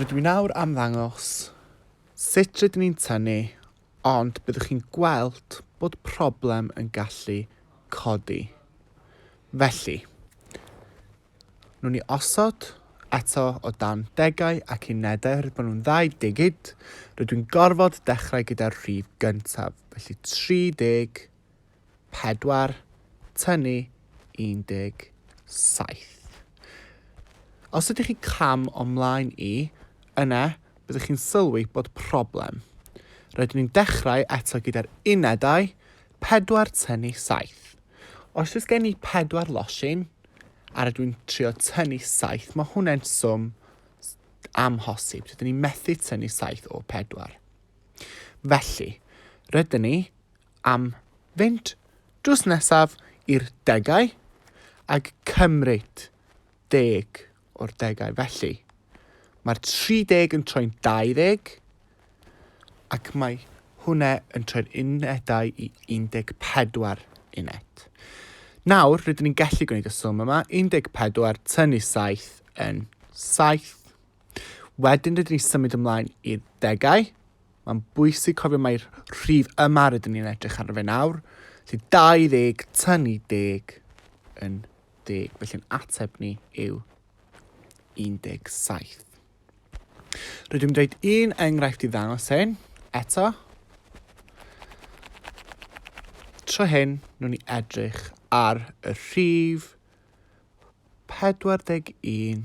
Rydw i nawr am ddangos sut rydyn ni'n tynnu, ond byddwch chi'n gweld bod problem yn gallu codi. Felly, nhw'n ni osod eto o dan degau ac unedau, rydw nhw'n ddau digid, rydw i'n gorfod dechrau gyda'r rhif gyntaf, felly 30 pedwar, tynnu 17. Os ydych chi cam o mlaen i, yna byddwch chi'n sylwi bod problem. Rydyn ni'n dechrau eto gyda'r unedau, pedwar tynnu saith. Os oes gen i pedwar losin, a rydw i'n trio tynnu saith, mae hwnna'n swm amhosib. Rydyn ni'n methu tynnu saith o pedwar. Felly, rydyn ni am fynd drws nesaf i'r degau ac cymryd deg o'r degau. Felly, mae'r 30 yn troi'n 20 ac mae hwnna yn troi'r unedau i 14 uned. Nawr, rydyn ni'n gallu gwneud y swm yma, 14 tynnu 7 yn 7. Wedyn rydyn ni'n symud ymlaen i'r degau, Mae'n bwysig cofio mai'r rhif yma rydyn ni'n edrych ar fe nawr, sydd 20 tynnu 10 yn 10, felly'n ateb ni yw 17. Rydym yn dweud un enghraifft i ddangos hyn, eto. Tro hyn, nhw'n ni edrych ar y rhif 41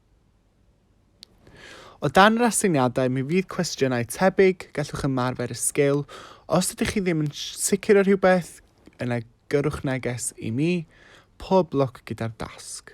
O dan yr aseiniadau, mi fydd cwestiynau tebyg, gallwch ymarfer y sgil. Os ydych chi ddim yn sicr o rhywbeth, yna gyrrwch neges i mi. Pob lwc gyda'r dasg.